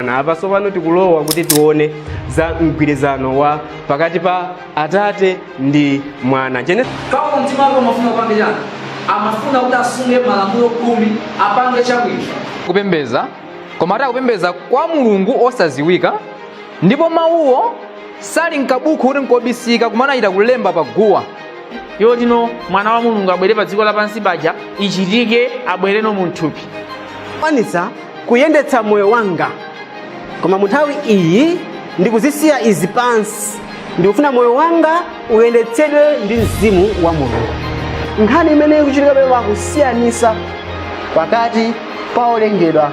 Na apa tsopano tikulowa kuti tione za mgwirizano wa pakati pa atate ndi mwana Gene- Paulo mtima wake umafuna upange chani amafuna kuti asunge malamulo khumi apange chabwino kupembeza koma ati akupembeza kwa mulungu osaziwika ndipo mawuwo sali mkabuku kuti nkobisika koma anachita kulemba pa guwa yotino mwana wa mulungu abwere pa dziko lapansi paja ichitike abwereno mu thupi kwanitsa kuyendetsa moyo wanga koma mu nthawi iyi ndikuzisiya izi pansi ndikufuna moyo wanga uyendetsedwe ndi mzimu wa mulungu nkhani imene ikuchitika pamenepa kusiyanisa pakati pa olengedwa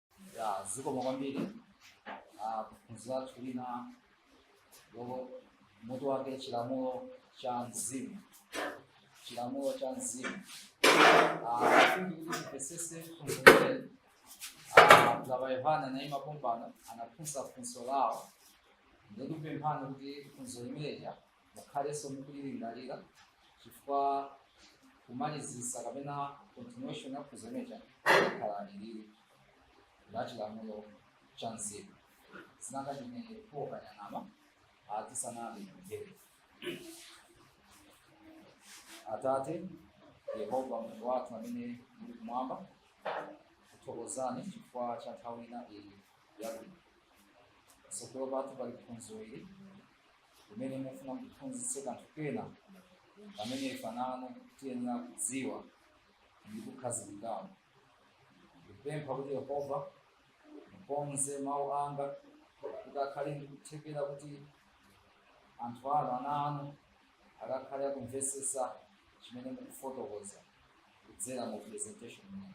ya zikomo kwambiri Ah, phunziro lathu lina lomwe mutu wake chilamulo cha mzimu chilamulo cha mzimu Ah, kufuna kuti timvesese funso lile baba yohane anaima pompano anafunsa funso lawo ndikupemphani kuti funso limeja mukhalenso mukulilingalira chifukwa kumalizisa kapena continuation ya funso limeja kukhala ilili la chilamulo cha mzimu zinanga chimene kukayang'ana tisanapemphere atate yehova mulungu wathu amene muli kumwamba kuthokozani chifukwa cha nthawi ina iyi yabwino tsogolo pathu pali phunziro ili kumene mufuna mutiphunzitse kanthu kena kamene ife ana anu tiyenera kudziwa ndi kukhazikikamo ndikupempha kuti yehova mukonze mawu anga kuti akhale ndi kuthekera kuti anthu anu ana anu akakhale akumvetsetsa chimene mukufotokoza kudzera mu presentation imeyi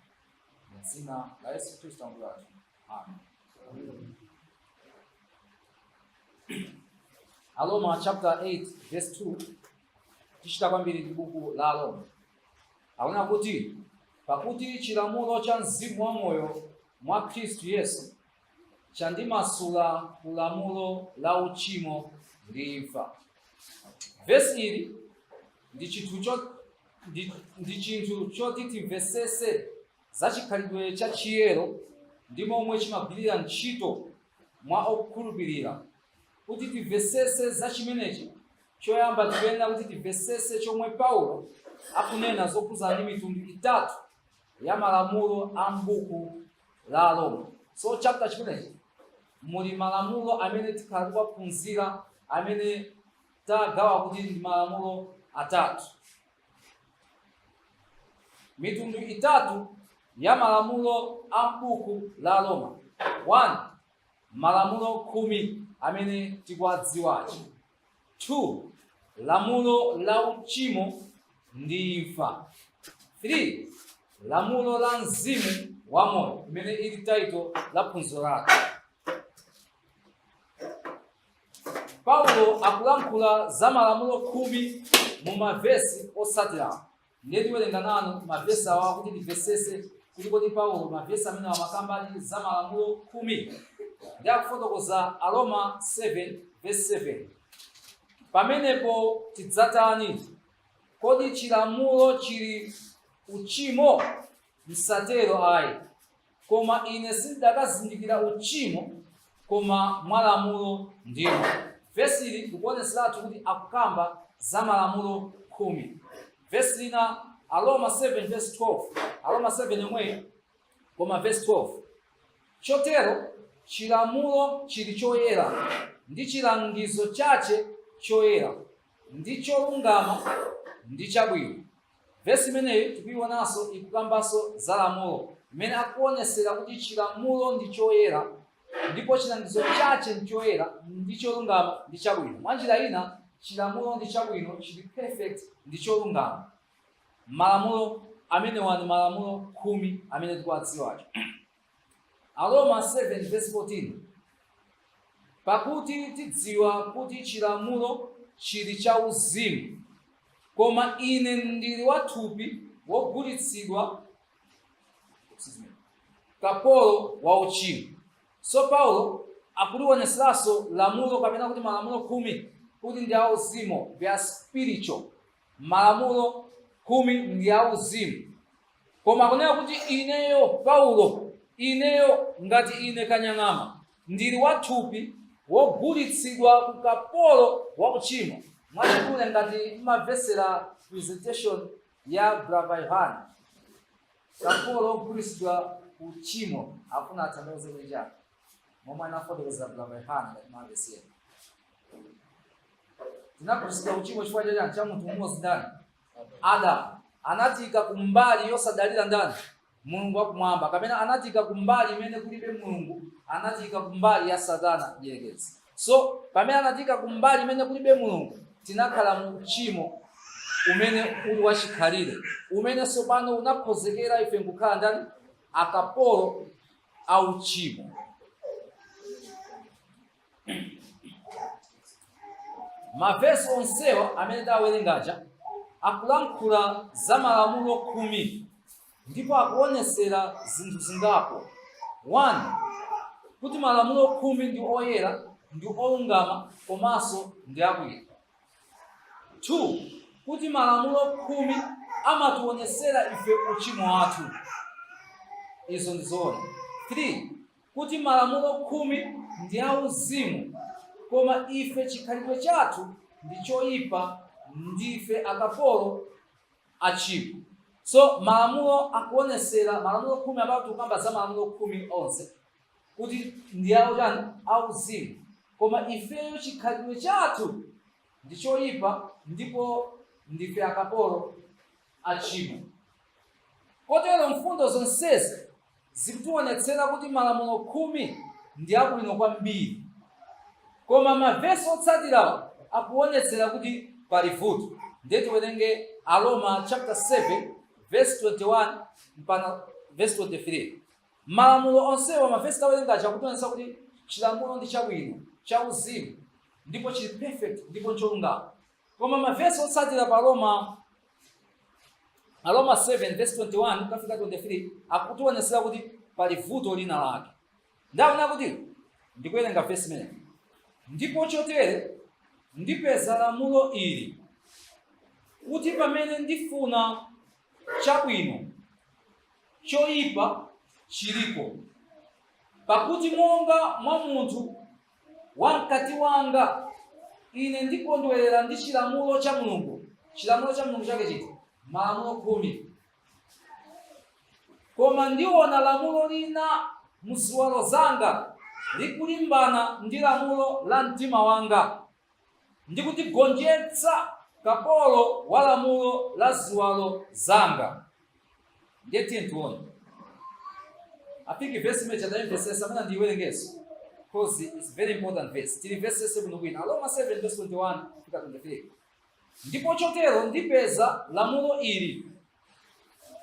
mu dzina la yesu khristu ambuye wathu Aroma chapter 8 verse 2 tichita kwambiri ndi buku la Aroma akunena kuti pakuti chilamulo cha mzimu wa moyo mwa Khristu Yesu chandimasula ku lamulo la uchimo ndi imfa vesi ili ndi chinthu cho- ndi- ndi chinthu choti timvesese za chikhalidwe cha chiyero ndi momwe chimagwirira ntchito mwa okhulupirira. Kuti timvesese za chimenechi, choyamba tikuyenera kuti timvesese chomwe Paulo akunena zokhudzana ndi mitundu itatu ya malamulo a m'buku la Aroma. So chapter chimenechi muli malamulo amene tikhala tikuwaphunzira amene tagawa kuti ndi malamulo atatu. mitundu itatu ya malamulo a m'buku la aroma 1 malamulo khumi amene tikuwadziwacho 2 lamulo la uchimo ndi imfa 3 lamulo la mzimu wa moyo imene ili taito la phunziro lake Paulo akulankhula za malamulo khumi mu mavesi otsatirawa. Ndiye tiwerenga nanu mavesi awa kuti timvetsetse kuti kodi Paulo mavesi amene amakambadi za malamulo khumi ndiye akufotokoza Aroma 7 vesi 7. Pamenepo tidzatani? Kodi chilamulo chili uchimo? Msatero ayi. Koma ine sindidakazindikira uchimo koma mwa lamulo ndimo. Vesi ili likuonetseratu kuti akukamba za malamulo khumi. Vesi lina Aroma 7 vesi 12, Aroma 7 yomweyi koma vesi 12 chotero chilamulo chili choyera ndi chilangizo chache choyera ndi cholungama ndi chabwino. Vesi imeneyi tikuionanso ikukambanso za lamulo, imene akuonesera kuti chilamulo ndi choyera ndipo chilangizo chache ndi choyera ndi cholungama ndi chabwino. Mwa njira ina, chilamulo ndi chabwino, chili perfect ndi cholungama. Malamulo amenewa ndi malamulo khumi amene tikuwadziwacho. Aroma 7 verse 14 pakuti tidziwa kuti chilamulo chili cha uzimu koma ine ndili wathupi wogulitsidwa kapolo wa uchimo so paulo akuliwoneseranso lamulo kapena kuti malamulo khumi kuti ndi auzimu they are spiritual Malamulo khumi ndi auzimu. Koma akunena kuti ineyo Paulo, ineyo ngati ine Kanyang'ama, ndili wa thupi wogulitsidwa ku kapolo wa uchimo. Mwachidule ngati mumamvetsera presentation ya Brother Yohane, kapolo wogulitsidwa ku uchimo akufuna atanthauze kuja. momwe anafotokozera brother yohane ngati mumamvetsera tinagulitsidwa uchimo chifukwa chachani cha munthu mmodzi ndani adamu anatika kumbali yosadalira ndani mulungu wakumwamba kapena anatika kumbali imene kulibe mulungu anatika kumbali ya satana mdierekezi so pamene anatika kumbali imene kulibe mulungu tinakhala mu uchimo umene uli wachikhalire umene tsopano unakhozekera ife nkukhala ndani akapolo a uchimo mavesi onsewa amene ndawerengaja akulankhula za malamulo khumi ndipo akuonesera zinthu zingapo one kuti malamulo khumi ndi oyera ndi olungama komanso ndi abwino 2 kuti malamulo khumi amatiwonetsera ife uchimo wathu izo ndi zoona 3 kuti malamulo khumi ndi auzimu koma ife chikhalidwe chathu ndi choyipa ndife akapolo a tchimo so malamulo akuwonetsera malamulo khumi amene tikukamba za malamulo khumi onse kuti ndi autani auzimu koma ifeyo chikhalidwe chathu ndi choyipa ndipo ndife akapolo a tchimo kotero mfundo zonsezi zikutiwonetsera kuti malamulo khumi ndi abwino kwambiri koma mavesi otsatirawo akuwonetsera kuti pali vuto ndiye tiwerenge aroma chapter 7 verse 21 mpaka verse 23 Malamulo onsewa, mavesi tawerenga aja akutionetsa kuti chilamulo ndi chabwino, cha uzimu, ndipo chili perfect ndipo ncholungama. Koma mavesi otsatira pa Aroma Aroma 7 vesi 21 kukafika 23 akutionetsera kuti pali vuto lina lake. Ndaona kuti ndikuwerenga vesi imeneyi ndipo chotere ndipeza lamulo ili kuti pamene ndifuna chabwino, choyipa chilipo. Pakuti monga mwa munthu wa mkati wanga ine ndikondwerera ndi chilamulo cha mulungu chilamulo cha mulungu chake chiti malamulo khumi koma ndiona lamulo lina mu ziwalo zanga likulimbana ndi lamulo la mtima wanga ndi kutigonjetsa kapolo wa lamulo la ziwalo zanga ndiye tiye tione I think vesi imene chadayimvesesa amene ndiiwerengenso because it's very important verse tili vesi yese bwino bwino aroma 7 verse 21 fika 23 ndipo chotero ndipeza lamulo ili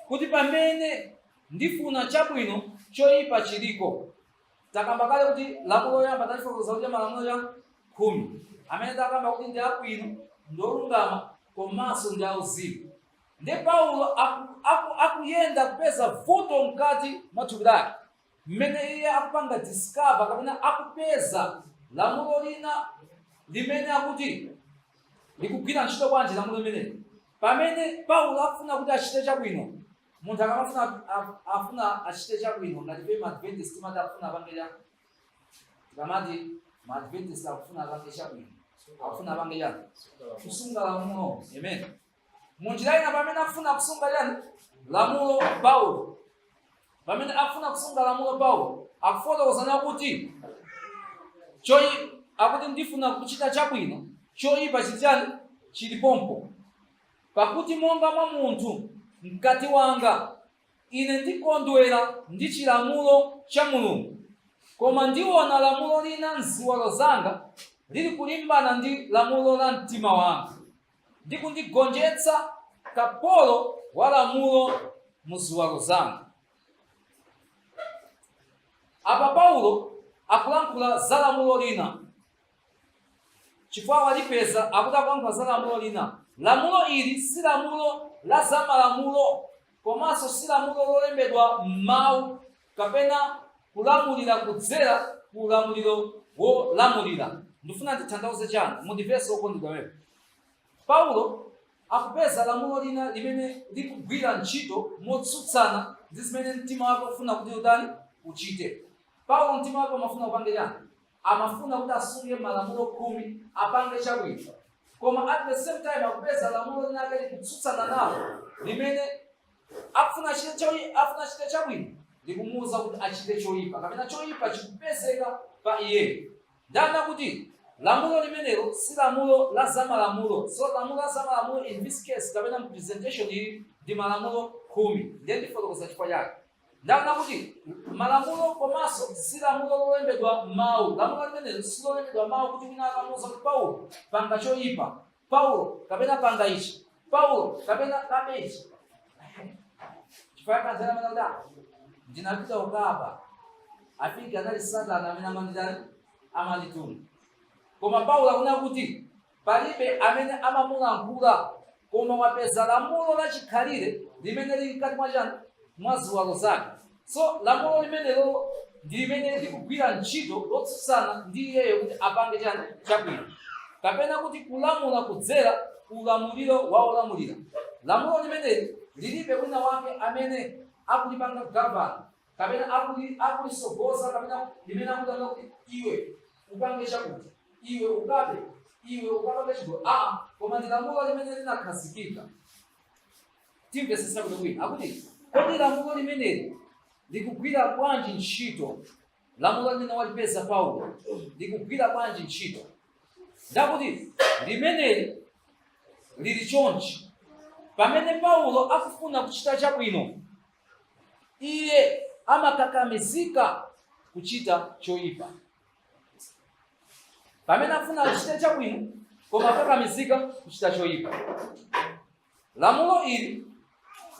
kuti pamene ndifuna chabwino choyipa chiliko Takamba kale kuti lamulo loyamba talifotokoza kuti malamulo aja khumi amene takamba kuti ndi abwino ndi olungama komanso ndi auzimu nde paulo aku- aku- akuyenda kupeza vuto mkati mwa thupi lake mmene iye akupanga discover kapena akupeza lamulo lina limene akuti likugwira ntchito bwanji lamulo limeneli pamene paulo afuna kuti achite chabwino Munthu akamafuna a- afuna achite chabwino ngati ife maadventist timati akufuna apange chani tikamati maadventist akufuna apange chabwino akufuna apange chani kusunga lamulo amen munjira ina pamene afuna kusunga chani lamulo paulo pamene afuna kusunga lamulo paulo akufotokozano kuti choi akuti ndifuna kuchita chabwino choipa chili chani chili pompo Pakuti monga mwa munthu, mkati wanga, ine ndikondwera ndi chilamulo cha Mulungu, koma ndiona lamulo lina m'ziwalo zanga lilikulimbana ndi lamulo la mtima wanga, ndi kundigonjetsa kapolo wa lamulo mu ziwalo zanga. Apa Paulo akulankhula za lamulo lina. chifukwa walipeza akuti akulankhula za lamulo lina lamulo ili si lamulo la zamalamulo komanso si lamulo lolembedwa m'mawu kapena kulamulira kudzera ku ulamuliro wolamulira ndifuna ndithandauze chani mundimvetse okondedwa paulo akupeza lamulo lina limene likugwira ntchito motsutsana ndi zimene mtima wake ukufuna kuti utani uchite paulo mtima wake umafuna upange chani amafuna kuti asunge malamulo khumi apange chabwino koma at the same time akupeza lamulo linake likutsutsana nalo limene afuna achite choi- afuna achite chabwino likumuwuza kuti achite choyipa kapena choyipa chikupezeka pa iyeyo ndanena kuti lamulo limenelo si lamulo la zamalamulo so lamulo la zamalamulo in this case kapena mu presentation ili ndi malamulo khumi ndiye ndifotokoza chifukwa chake Ndanena kuti malamulo komanso si lamulo lolembedwa m'mawu. Lamulo limeneli si lolembedwa m'mawu kuti wina akamuuza kuti Paulo, panga choyipa. Paulo, kapena panga ichi. Paulo, kapena kabe ichi. Chifukwa anzeru amanena kuti "Ah, ndinapita kukaba. I think anali Satana amene amanditani amandituma. Koma Paulo akunena kuti Palibe amene amamulankhula, koma wapeza lamulo la chikhalire limene lili mkati mwa chani? Mwa ziwalo zake. So lamulo limenelo ndi limene likugwira ntchito lotsutsana ndi iyeyo kuti apange chani? Chabwino. Kapena kuti kulamula kudzera ku ulamuliro wa olamulira. Lamulo limeneli lilibe wina wake amene akulipanga govern. kapena akuli akulisogoza kapena limene akutanga kuti iwe upange chakuti iwe ukabe iwe ukapange chigololo koma ndi lamulo limene linakhazikika timvesese bwinobwino kuti kodi lamulo limeneli likugwira bwanji ntchito lamulo limene walipeza paulo likugwira bwanji ntchito ndakuti limeneli lili chonchi pamene paulo akufuna kuchita chabwino iye amakakamizika kuchita choyipa pamene afuna achite chabwino koma amakakamizika kuchita choyipa lamulo ili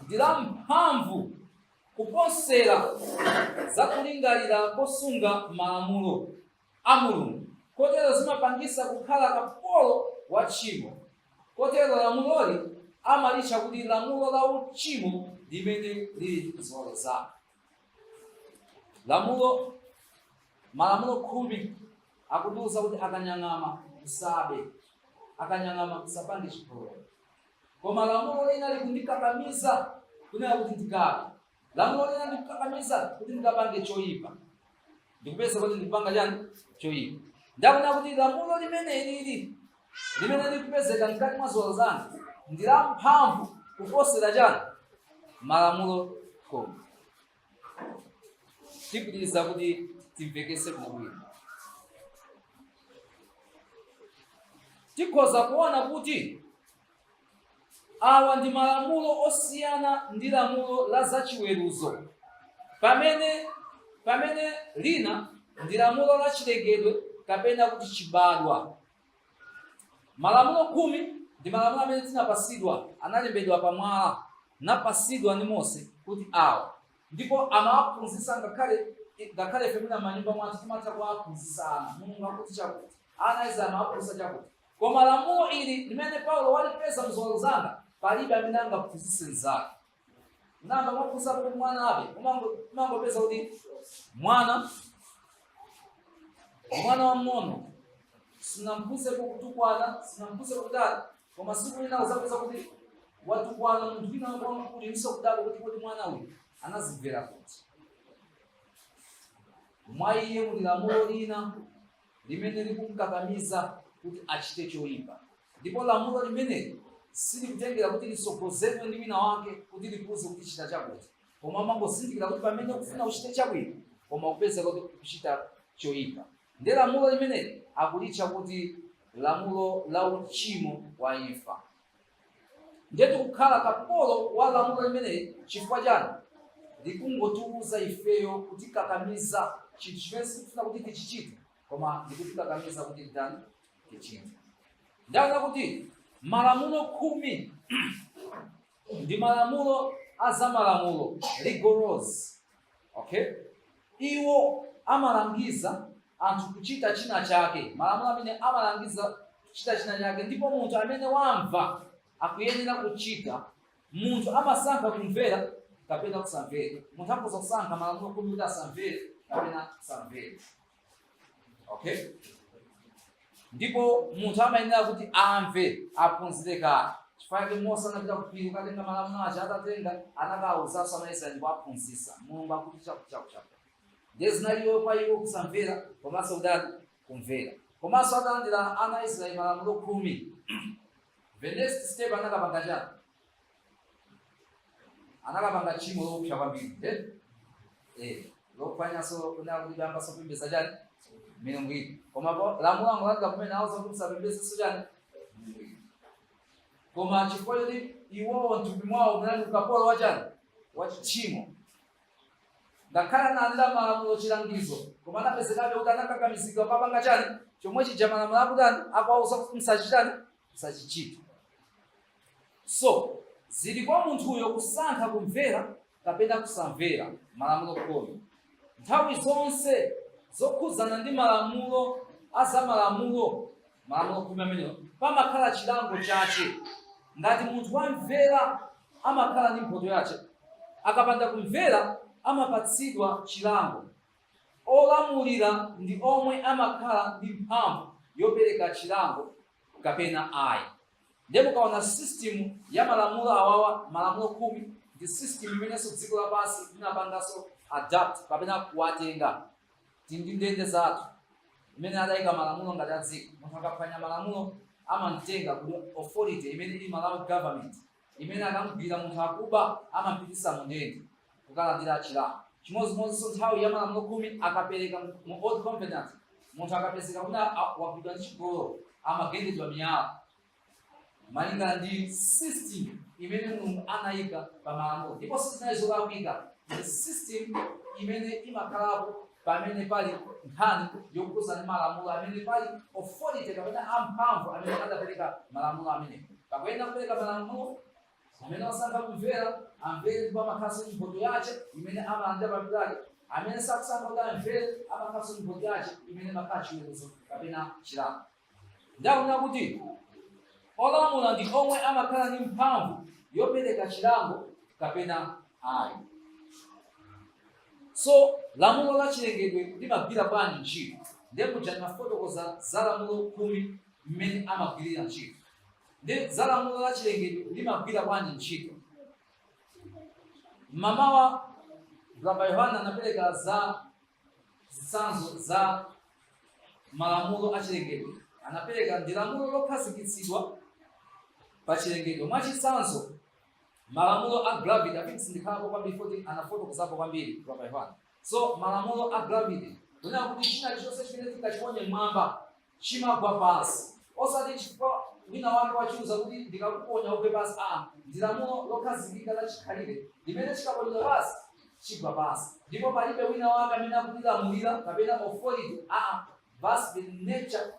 ndi la mphamvu kuposera za kulingalira kosunga malamulo a Mulungu, kotero zimapangisa kukhala kapolo wa tchimo, kotero lamuloli amalitcha kuti lamulo la uchimo limene lili mziwalo zake. Lamulo, malamulo khumi akutiuza kuti akanyang'ama usabe, akanyang'ama usapange chigololo. Koma lamulo lina likundikakamiza kunena kuti ndikabe, Lamulo lina likundikakamiza kuti ndikapange choyipa, ndikupeza kuti ndikupanga chani choyipa. Ndaona kuti lamulo limeneli limene likupezeka mkati mwa ziwalo zanga ndi lamphamvu kuposera chani malamulo khumi tipitiriza kuti timvekese bwinobwino tikhoza kuona kuti Awa ndi malamulo osiyana ndi lamulo la zachiweruzo, pamene lina ndi lamulo la chilengedwe kapena kuti chibadwa. Malamulo khumi ndi malamulo amene tinapasidwa analembedwa pa mwala napasidwa ndi Mose kuti awa ndipo amawaphunzitsa ngakhale ife mwina manyumba mwathu timatha kuwaphunzitsa ana mulungu akuti chakuti ana izi amawaphunzitsa chakuti Koma lamulo ili limene Paulo walipeza m'ziwalo zanga, palibe amene angaphunzitse mnzake. Nanga mwaphunzitsa kuti mwana abe? Umangopeza kuti mwana mwana wamng'ono sinamphunzitse kutukwana, sinamphunzitse kutani, koma siku lina uzapeza kuti watukwana munthu wina wamkulu inuso kudabwa kuti mwana uyu anazimvera kuti mwa iye muli lamulo lina limene likumkakamiza kuti achite choipa, ndipo lamulo limeneli silikutengera kuti litsogozedwe ndi wina wake kuti likuuze kuti chita chakuti, koma umangozindikira kuti pamene ukufuna uchite chabwino koma kupeza kuti ukuchita choipa. Nde lamulo limeneli akulitcha kuti lamulo la uchimo wa imfa. ndiye tikukhala kapolo wa lamulo limeneli chifukwa chani likungotiuza ifeyo kutikakamiza chinthu chimene sitikufuna kuti tichichite koma likutikakamiza kuti titani tichite ndaona kuti malamulo khumi ndi malamulo a zamalamulo rigorous okay Iwo amalangiza anthu kuchita china chake, malamulo amene amalangiza kuchita china chake, ndipo munthu amene wamva akuyenera kuchita. Munthu amasankha kumvera kapena kusamvera. Munthu akhoza kusankha malamulo khumi kuti asamvere kapena kusamvera. okay ndipo munthu amayenera kuti amve aphunzire kale chifukwa chake mose anapita kuphiri kukatenga malamulo aja atatenga anakawuzanso anaisraeli kuwaphunzitsa mulungu akuti chakuchakuchaku ndiye zinaliwo kwa iwo kusamvera komanso kutani kumvera komanso atalandira ana a israeli malamulo khumi the next step anakapanga chani anakapanga tchimo loopsa kwambiri nde eh lopanganso kuyambanso kupembedza chani milungu ina koma po- lamulo angolandira kumene awauza kuti musapembedzenso chani milungu ina koma chifukwa choti iwowo mthupi mwawo munali ukapolo wa chani wa tchimo ngakhale analandira malamulo chilangizo koma anapezekabe kuti anakakamizidwa kupanga chani chomwe chija malamulo akutani akuwauza kuti msachitani msachichita So, zili kwa munthuyo kusankha kumvera kapena kusamvera malamulo khumi. Nthawi zonse zokhudzana ndi malamulo a za malamulo malamulo khumi amenewo pamakhala chilango chache. Ngati munthu wamvera amakhala ndi mphoto yache, akapanda kumvera amapatsidwa chilango. Olamulira ndi omwe amakhala ndi mphamvu yopereka chilango kapena ayi ndiye mukaona system ya malamulo awawa malamulo khumi ndi system imenenso dziko lapansi linapanganso adapt kapena kuwatenga tili ndi ndende zathu imene adayika malamulo ngati a dziko munthu akaphwanya malamulo amamtenga ku authority imene ili malawi government imene akamgwira munthu akuba amampitisa mu ndende kukalandira chilango chimodzimodzinso nthawi ya malamulo khumi akapereka mu old covenant munthu akapezeka kuti wagwidwa ndi chigololo amagendedwa miyala malingana ndi system imene mulungu anayika pa malamulo ndipo sizinali zolakwika ndi system imene imakhalapo pamene pali nkhani yokhudzana ndi malamulo amene pali authority kapena amphamvu amene adapereka malamulo amene pakuyenda kupereka malamulo amene wasankha kumvera amvere ndipo amakhalanso ndi mphoto yace imene amalandira pamutu pake amene sakusankha kuti amvere amakhalanso ndi mphoto yace imene imakhala chiweruzo kapena chilango ndanena kuti olamula ndi omwe amakhala ndi mphamvu yopereka chilango kapena ayi so lamulo la chilengedwe limagwira bwanji ntchito ndiye muja ndinafotokoza za lamulo khumi mmene amagwirira ntchito ndiye za lamulo la chilengedwe limagwira bwanji ntchito mmamawa rabbi yohana anapereka za zitsanzo za malamulo a chilengedwe anapereka ndi lamulo lokhazikitsidwa pa chilengedwe mwachitsanzo malamulo a gravity amene sindikhalapo kwambiri poti anafotokozapo kwambiri rabbi yohana so malamulo a gravity kunena kuti china chonse chimene tingachiponye mmwamba chimagwa pansi, osati chifukwa winawake wachiuza kuti, ndikakuponya ugwe pansi. Aa, ndi lamulo lokhazikika la chikhalire limene chikaponyedwa pansi, chigwa pansi. Ndipo palibe winawake amene akulilamulira, kapena authority, aa, that's the nature,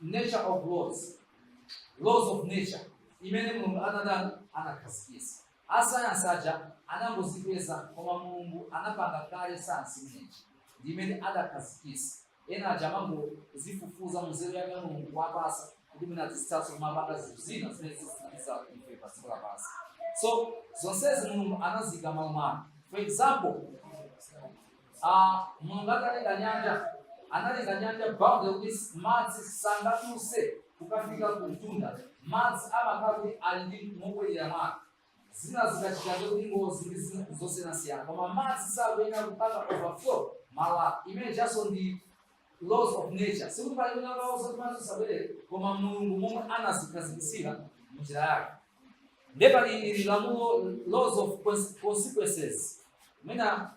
nature of laws, laws of nature, imene Mulungu anatani, anakhazikitsa. Asayansi aja anangozipeza, koma Mulungu anapanga kale sayansi imeneyi, ndi imene adakhazikitsa. ena aja amangozifufuza munzeru yake mulungu wawapasa kuti mwina azithaso kumapanga zinthu zina zimene zizithandiza ife pa dziko lapansi so zonsezi mulungu anaziyika malo mwake for example ah, mulungu atalenga nyanja analenga nyanja boundary kuti madzi sangatuluse kukafika ku mtunda madzi amakhala kuti ali ndi mobwerera mwake zina zikachita kuti ngozi ndi zina zosiyanasiyana koma madzi sakuyenera kupanga overflow malo amene ajaso ndi laws of nature sikuti pali wina akawuza kuti madzi usabwerere koma mulungu momwe anazikhazikisira mnjira yake nde pali ili lamulo laws of cons- consequences mwina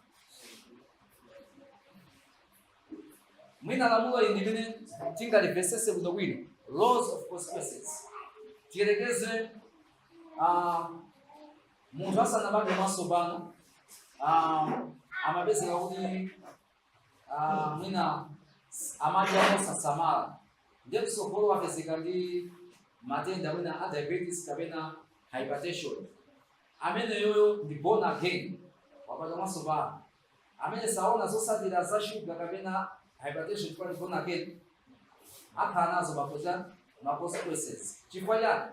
mwina lamulo ili limene tingalimvesese bwinobwino laws of consequences tiyerekeze ah, munthu asanabadwe mwatsopano ah, amapezeka kuti ah, mwina amadya mosasamala ndiye mtsogolo wapezeka ndi matenda mwina a diabetes kapena hypertension ameneyoyo ndi born again wabadwa mwatsopano amene saziona zosatira za shuga kapena hypertension chifukwa ndi born again akhala nazo makonse ma consequences chifukwa chani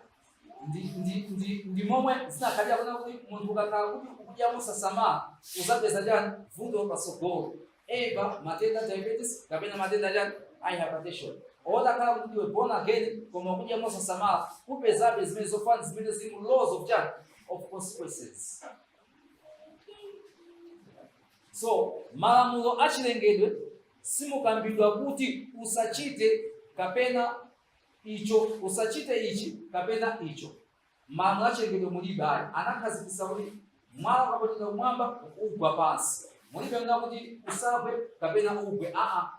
ndi ndi ndi ndi momwe zinakhalira kunena kuti munthu ukakhala kuti ukudya mosasamala uzapeza chani vuto pasogolo either matenda diabetes kapena matenda chani a hypertension olo utakhala kuti ndiwe born again koma ukudya mosasamala upezabe zimene zofana zimene zili mu laws of chani of consequences so malamulo achilengedwe simukambidwa kuti usachite kapena icho usachite ichi kapena icho malamulo achilengedwe mulibe ayi anakhazikitsa kuti mwala ukaponyedwa kumwamba ugwa pansi Mulibe kunena kuti usagwe kapena ugwe aa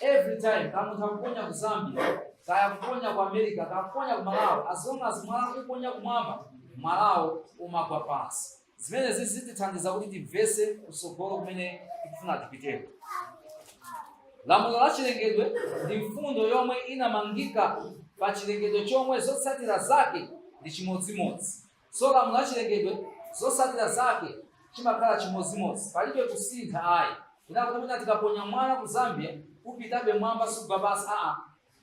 every time kaya munthu akuponya ku Zambia kaya kuponya ku America kaya kuponya ku Malawi as long as mwala ukuponya kumwamba mwalawo umagwa pansi zimenezi zitithandiza kuti timvetse kutsogolo kumene tikufuna tipiteko lamulo la chilengedwe ndi mfundo yomwe inamangika pa chilengedwe chomwe zotsatira zake ndi chimodzimodzi So malamulo achilengedwe zotsatira zake chimakhala chimodzimodzi palibe kusintha ayi kunena kuti mwina tikaponya mwala ku Zambia upitabe mwamba sugwa pansi aa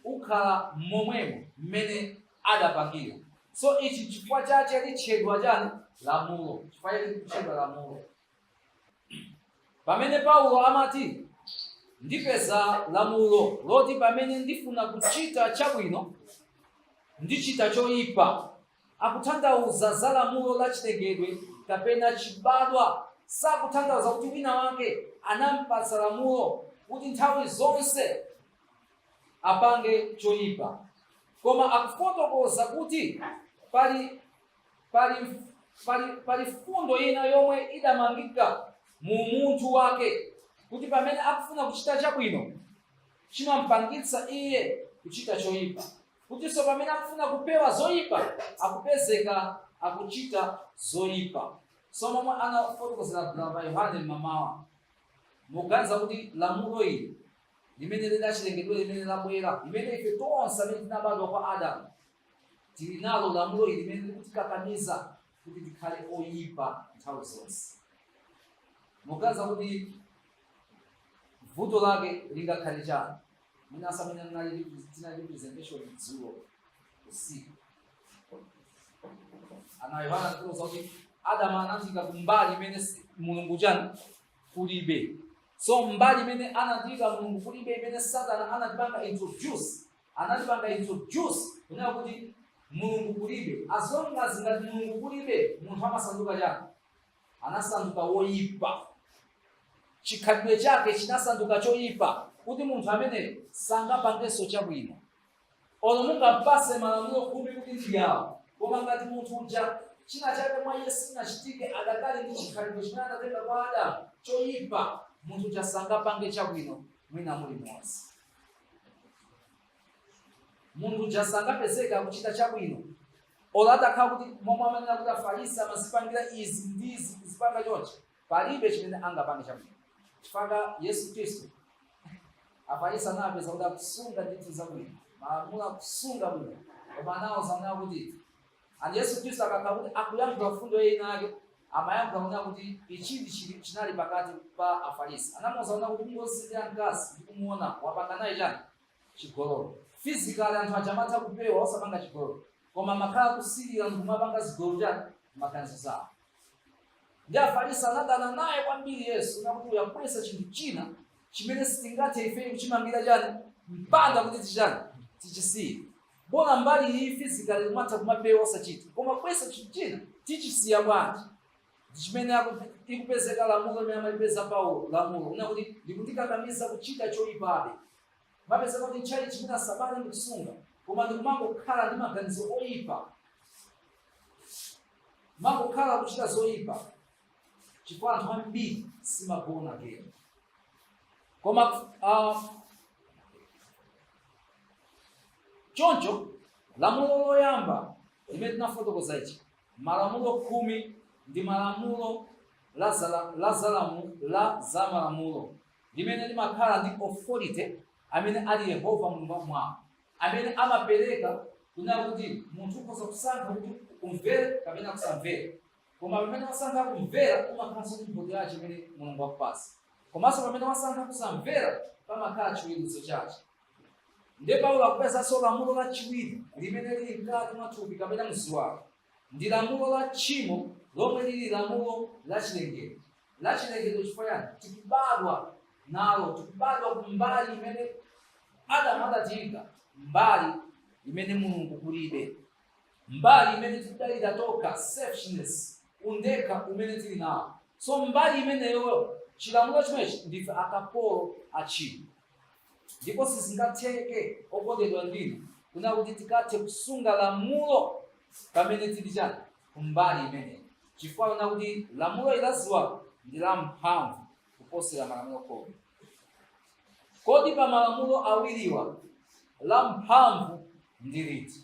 ukhala momwemo mmene adapangira so ichi chifukwa chache litchedwa chani lamulo chifukwa chake litchedwa lamulo pamene Paulo amati ndipeza lamulo loti pamene ndifuna kuchita chabwino ndichita choyipa akutanthauza za lamulo la chilengedwe kapena chibadwa. Sakutanthauza kuti wina wake anampatsa lamulo kuti nthawi zonse apange choyipa, koma akufotokoza kuti pali pali pali pali mfundo ina yomwe idamangika mu munthu wake kuti pamene akufuna kuchita chabwino chimampangitsa iye kuchita choyipa. kutinso pamene akufuna kupewa zoyipa akupezeka akuchita zoyipa so momwe anafotokozera brother yohane mmamawa muganiza kuti lamulo ili limene lili lachilengedwe limene labwera limene ife tonse amene tinabadwa kwa adamu tili nalo lamulo ili limene likutikakamiza kuti tikhale oyipa nthawi zonse muganiza kuti vuto lake lingakhale chani Mwina si amene anali repre- tinali pa presentation dzulo usiku. Brother Yohane anatiuza kuti Adamu anatiika kumbali imene si- Mulungu chani kulibe. So mbali imene anatiika Mulungu kulibe imene Satana anatipanga introduce. Anatipanga introduce kunena kuti Mulungu kulibe. As long as ngati Mulungu kulibe, munthu amasanduka chani? anasanduka woyipa chikhalidwe chake chinasanduka choyipa kuti munthu ameneyu sangapangenso chabwino olo mungampatse malamulo khumi kuti ndiyawo koma ngati munthu uja china chake mwa iye sinachitike adakali ndi chikhalidwe chimene anatenga kwa adamu choyipa munthu uja sangapange chabwino mwina mulimonse munthu uja sangapezeke kuchita chabwino olo atakhala kuti momwe amanena kuti afarisi amazipangira izi ndi izi zipanga chonchi palibe chimene angapange chabwino chifukwa yesu khristu afarisi anapeza kuti akusunga ndithu zabwino malamulo akusunga bwino koma anawauza kuti And Yesu Kristu akakhala kuti akuyankhula mfundo ina yake amayankhula kunena kuti ichi ndi chili- chinali pakati pa Afarisi. Anamuuza kunena kuti mungosilira mkazi ndi kumuona wapanga naye chani chigololo. Physically anthu aja amatha kupewa osapanga chigololo koma amakhala kusilira ndi kumapanga zigololo chani mmaganizo zawo. ndi afarisi anadana naye kwambiri yesu nakuti wabweretsa chinthu china chimene sitingathe ifeyo kuchimangira chani mpanda kuti tichani tichisiye bola mbali iyi physically kumatha kumapewa osachita koma wabweretsa chinthu china tichisiya bwanji ndichimene aku- ikupezeka lamulo limene amalipeza paulo lamulo kunena kuti likundikakamiza kuchita choyipabe mapezeka kuti chabwino chimene sabata ndikusunga koma ndikumangokhala ndi maganizo oyipa mangokhala kuchita zoyipa chifukwa anthu ambiri simagona kena koma uh, choncho lamulo loyamba limene tinafotokoza ichi malamulo khumi ndi malamulo la zala- la zalamu la za malamulo limene limakhala ndi authority amene ali yehova mulungu kumwambako amene amapereka kunena kuti munthu ukhoza kusankha kuti umvere kapena kusamvera Koma pamene wasankha kumvera, umakhalanso ndi mphotho yace imene Mulungu wakupasa. Komanso pamene wasankha kusamvera, pamakhala ciweruzo cace. Ndiye Paulo akupezanso lamulo laciwiri limene lili mkati mwa thupi kapena mziwalo. Ndi lamulo la tchimo lomwe lili lamulo la cilengedwe. La cilengedwe cifukwa cani? Tikubadwa nalo. Tikubadwa ku mbali imene Adamu adatiika, mbali imene Mulungu kulibe. mbali imene tikudalira tokha, selfishness, undekha umene tili nawo. So mbali imeneyo chilamulo chimenechi ndife akapolo a tchimo, ndipo sizingatheke okondedwa inu kunena kuti tikathe kusunga lamulo pamene tili chani kumbali imeneyi, chifukwa kunena kuti lamulo ili lachiwiri ndi la mphamvu kuposera malamulo khumi. Kodi pa malamulo awiriwa la mphamvu ndi liti?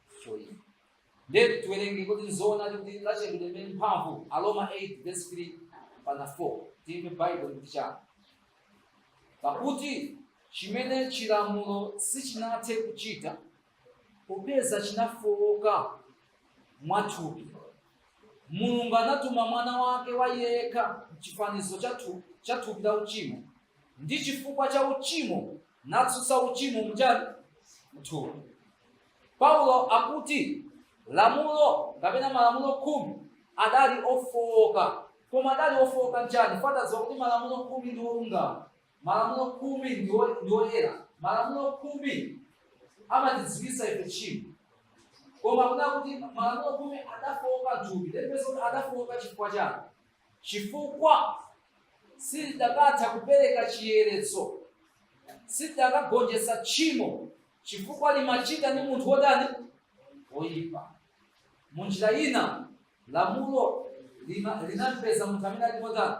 for you. Then tiwerenge kuti nzoona kuti lachilengedwe lilibe mphamvu Aroma 8 verse 3 mpaka 4 timve Bible ikuti chani pakuti chimene chilamulo sichinathe kuchita popeza chinafowoka mwathupi mulungu anatuma mwana wake wayekha mchifanizo cha thu- cha thupi la uchimo ndi chifukwa cha uchimo natsutsa uchimo mchani mthupi paulo akuti lamulo kapena malamulo khumi adali ofooka koma adali ofooka mchani pajatu tadziwa kuti malamulo khumi ndi olungama malamulo khumi ndi oyera malamulo khumi amatidziwitsa ife tchimo koma akunena kuti malamulo khumi adafooka mthupi ndipeza kuti adafooka chifukwa chani chifukwa silidakatha kupereka chiyeretso silidakagonjetsa tchimo chifukwa limachita ndi munthu wotani woyipa mu njira ina lamulo lina- linampeza munthu amene ali motani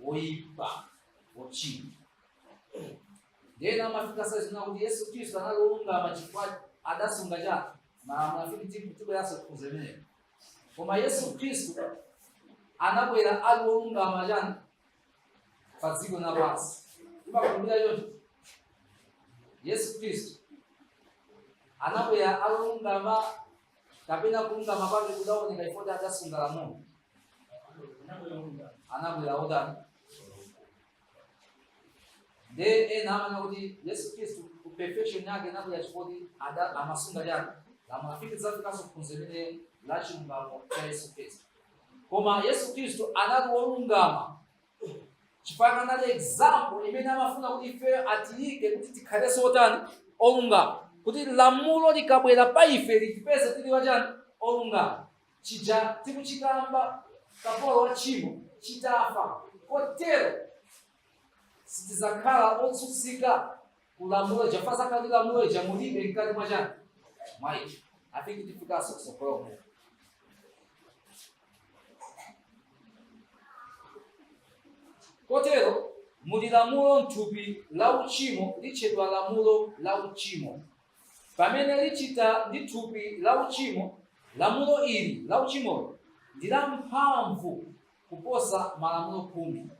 woyipa wochimwa nde ena amafika ponena kuti yesu khristu anali wolungama chifukwa adasunga chani malamulo afiti tibweranso ku phunziro limenelo koma yesu khristu anabwera ali wolungama chani pa dziko lapansi timakhulupirira choncho yesu khristu anabwera ali wolungama kapena kulungama kwake kudaoneka chifukwa adasunga lamulo anabwera otani nde ena amanena kuti yesu khristu perfection yake inabwera chifukwa amasunga chani lamulo afike tidzafikanso ku phunziro limeneli la chilungamo cha yesu khristu koma yesu khristu anali wolungama chifukwa anali example imene amafuna kuti ifeyo atiyike kuti tikhalenso otani olungama kuti lamulo likabwera pa ife litipeze tili achani olungama chija tikuchikamba kapolo wa tchimo chitafa kotero sitidzakhala otsutsika kulamulo ija pasakhala ndi lamulo ija mulibe mkati mwa chani mwa ife afiki tifikanso kutsogoloko kotero muli lamulo mthupi la uchimo litchedwa lamulo la uchimo pamene lichita ndi thupi la uchimo lamulo ili la uchimo ndi la mphamvu kuposa malamulo khumi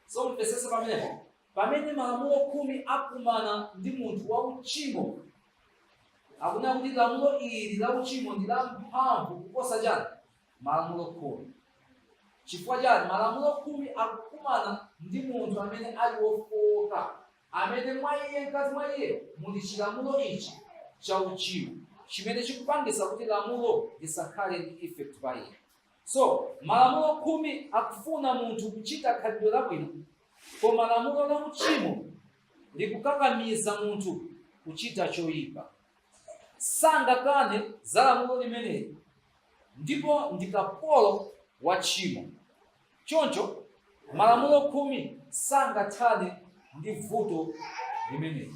so mvetsetsa pamenepo pamene malamulo khumi akumana ndi munthu wa uchimo akuona kuti lamulo ili la uchimo ndi lamphamvu kuposa chani malamulo khumi chifukwa chani malamulo khumi akukumana ndi munthu amene ali wofowoka amene mwa iye mkati mwa iye muli chilamulo ichi cha uchimo chimene chikupangisa kuti lamulo lisakhale ndi effect pa iye So, malamulo khumi akufuna munthu kuchita khalidwe labwino, koma lamulo la uchimo likukakamiza munthu kuchita choyipa. Sangakane za lamulo limeneli ndipo ndi kapolo wa tchimo. Choncho, malamulo khumi sangathane ndi vuto limeneli.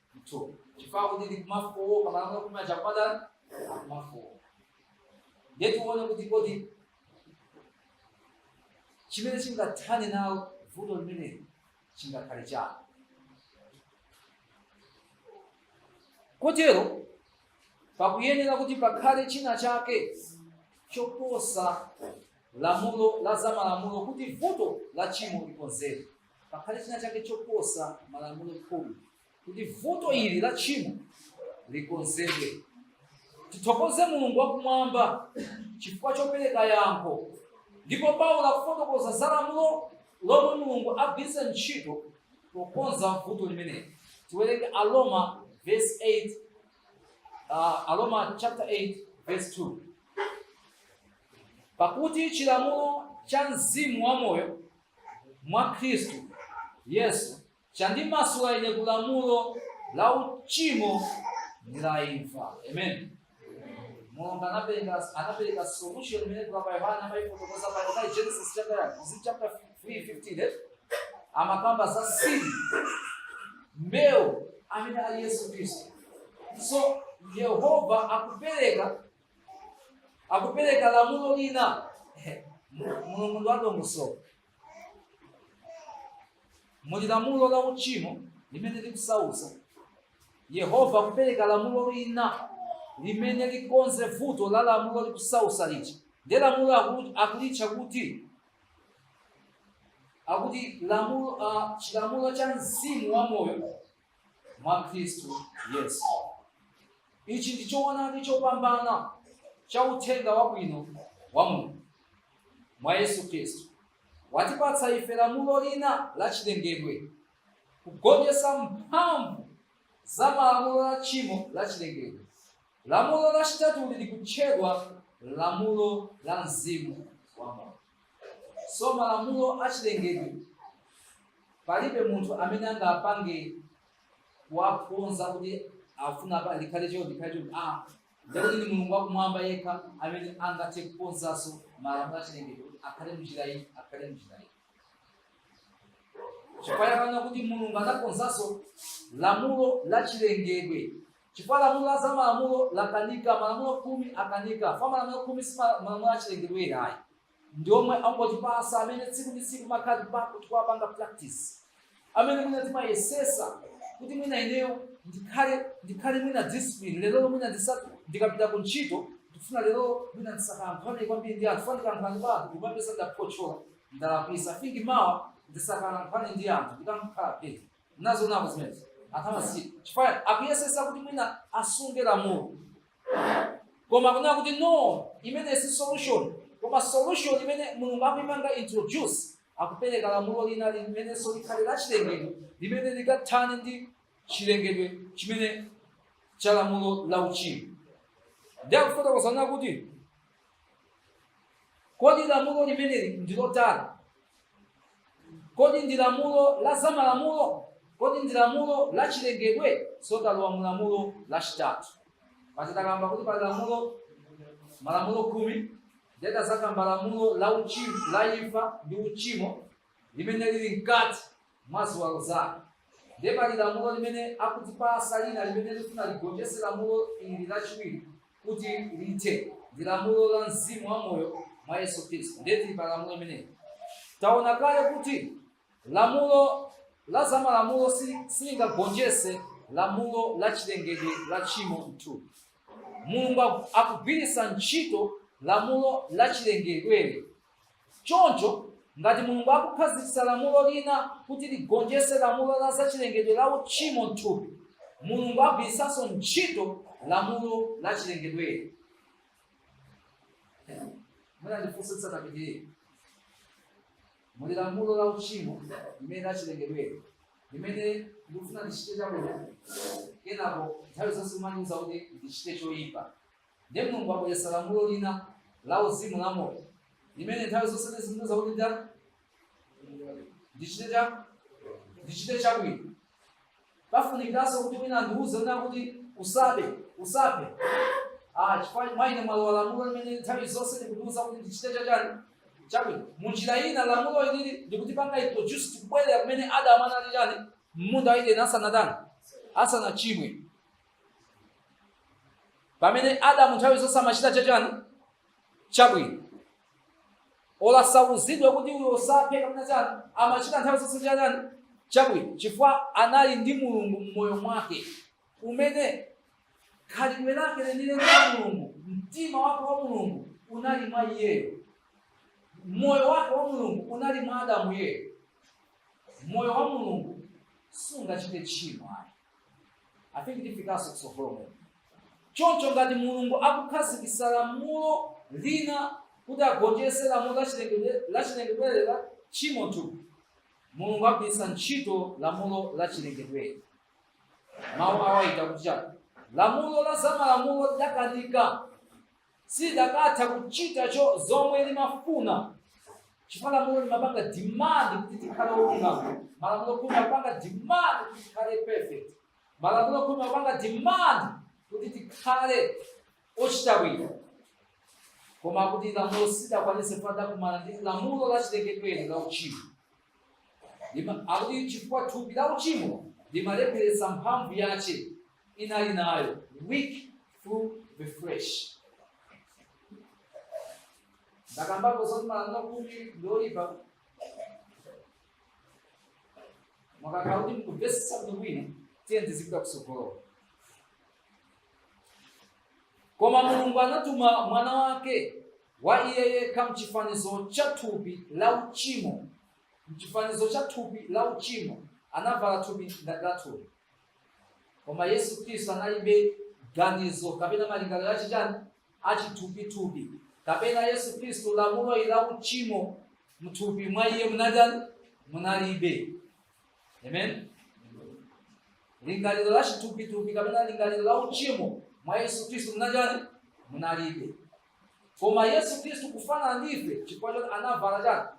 mthupi chifukwa kuti likumafowoka malamulo khumi aja kumathana akumafowoka ndiye tione kuti kodi chimene chingathane nalo vuto limeneli chingakhale chani kotero pakuyenera kuti pakhale china chake choposa lamulo la zamalamulo kuti vuto la tchimo likonzedwe pakhale china chake choposa malamulo khumi kuti vuto ili la tchimo likonzedwe tithokoze mulungu wakumwamba chifukwa chopereka yankho ndipo paulo akufotokoza za lamulo lomwe mulungu agwiritsa ntchito pokonza vuto limeneli tiwerenge aroma verse 8 uh, aroma chapter 8 verse 2 pakuti chilamulo cha mzimu wa moyo mwa Khristu Yesu chandimasula ine ku lamulo la uchimo ndi la imfa. Amen. Mulungu anapereka anapereka solution imene kwa pa Yohana amaifotokoza pa pa Genesis chapter is it chapter 3:15 eh? Amakamba za seed mbewu amene ali Yesu Kristu. So Yehova akupereka akupereka lamulo lina mulungu ndi wadongosolo muli lamulo la uchimo limene likusausa yehova akupereka lamulo lina limene likonze vuto la lamulo likusausa lija nde lamulo aku- akulitcha kuti akuti lamulo ah, chilamulo cha mzimu wa moyo mwa khristu yesu ichi ndi choonadi chopambana cha uthenga wabwino wa mulungu mwa yesu khristu watipatsa ife lamulo lina la chilengedwe kugonjetsa mphamvu za malamulo la tchimo la chilengedwe lamulo lachitatuli likutchedwa lamulo la mzimu wa moyo so malamulo achilengedwe palibe munthu amene angapange kuwakonza kuti afuna pa likhale chio likhale chio a ndikuti ni mulungu wakumwamba yekha amene angathe kukonzanso malamulo achilengedwe kuti akhale mnjira iyi akhale mnjira iyi chifukwa akunena kuti mulungu anakonzanso lamulo la chilengedwe Chifukwa lamulo la zamalamulo lakanika, malamulo khumi akanika. Chifukwa malamulo khumi si ma- malamulo achilengedwe ayi, ndi omwe angotipasa amene tsiku ndi tsiku timakhala tipa- tikuwapanga practice, amene mwina timayesesa kuti mwina ineyo ndikhale ndikhale mwina discipline lero mwina ndisa ndikapita ku ntchito ndifuna lero mwina ndisakalankhulane kwambiri ndi anthu chifukwa ndikalankhulana ndi anthu ndimapeza ndaphotchola ndalakwisa I think mawa ndisakalankhulane ndi anthu ndikamkhala peti nazonako zimenezo anthu amasiku chifukwa akuyesesa kuti mwina asunge lamulo koma akunena kuti no imeneyi si solution koma solution imene mulungu akuipanga introduce akupereka lamulo lina limenenso likhale la chilengedwe limene likathane ndi chilengedwe chimene cha lamulo la uchimo ndiye akufotokoza kuti Kodi lamulo limeneli ndi lotani? Kodi ndi lamulo la zamalamulo? Kodi ndi lamulo la chilengedwe? So talowa mu lamulo lachitatu. Paja takamba kuti pali lamulo malamulo khumi nde tazakamba lamulo la uchimo la imfa ndi uchimo limene lili mkati mwa ziwalo zanu. Ndiye pali lamulo limene akutipasa lina limene lifuna ligonjese lamulo ili lachiwiri kuti lithe, ndi lamulo la mzimu wa moyo mwa Yesu Khristu. Ndiye tili pa lamulo limeneli. Taona kale kuti lamulo la zamalamulo silingagonjese lamulo la chilengedwe la tchimo m'thupi. Mulungu akugwiritsa ntchito lamulo la chilengedweli Choncho, ngati Mulungu akukhazikitsa lamulo lina kuti ligonjetse lamulo la zachilengedwe la uchimo m'thupi, Mulungu agwiritsanso ntchito lamulo la chilengedweli. Mwina ndifunse tisanapitirire. Muli lamulo la uchimo limene la chilengedweli limene ndikufuna ndichite chabwino, kenako nthawi zonse kumandiuza kuti ndichite choyipa. Ndiye Mulungu wabweretsa lamulo lina la uzimu la moyo limene nthawi zonse lizindiuza kuti nditani ndichite cha ndichite chabwino. Pafunikiranso kuti wina andiuze kuti kuti usabe usabe ah, chifukwa mwa ine mwalowa lamulo limene nthawi zonse likundiuza kuti ndichite chachani chabwino. Mu njira ina lamulo ilili likutipanga introduce tikubwerera kumene Adamu anali chani m'munda wa Edeni asanatani asanachimwe. pamene adamu nthawi zonse amachita chachani chabwino osauzidwa kuti uyo osaphe kapena chani amachita nthawi zonse chachani chabwino chifukwa anali ndi mulungu mmoyo mwake umene khalidwe lake lenileni la mulungu mtima wake wa mulungu unali mwa iyeyo moyo wake wa mulungu unali mwa adamu yeyo moyo wa mulungu sungachite tchimo ayi I think tifikanso kutsogolomo choncho ngati mulungu akukhazikisa lamulo lina kuti agonjese lamulo lachilengedwe la tchimo mthupi mulungu agwiritsa ntchito lamulo lachilengedwe mawu awayita kuti chani lamulo la zamalamulo lidakanika silidakatha kuchita zomwe limafuna chifukwa lamulo limapanga demand kuti tikhale olungama malamulo khumi amapanga demand kuti tikhale perfect malamulo khumi amapanga demand kuti tikhale ochita bwino koma akuti lamulo silidakwanise lidakumana ndi lamulo la chilengedwe la uchimo Lima- akuti chifukwa thupi la uchimo limalepheretsa mphamvu yace inali nayo weak through the flesh ndakambapo zoti malamulo khumi ndi oipa mwakakhala kuti mukumvetsetsa bwino tiye ndizipita kusogolo koma mulungu anatuma mwana wake wa iye yekha mchifanizo cha thupi la uchimo mchifanizo cha thupi la uchimo anavala thupi ngati la thupi koma yesu khristu analibe ganizo kapena malingaliro achitani achithupithupi kapena yesu khristu lamulo ili la uchimo mthupi mwa iye munatani munalibe amen lingaliro la chithupithupi kapena lingaliro la uchimo mwa yesu khristu munatani munalibe koma yesu khristu kufanana ndife chifukwa choti anavala chani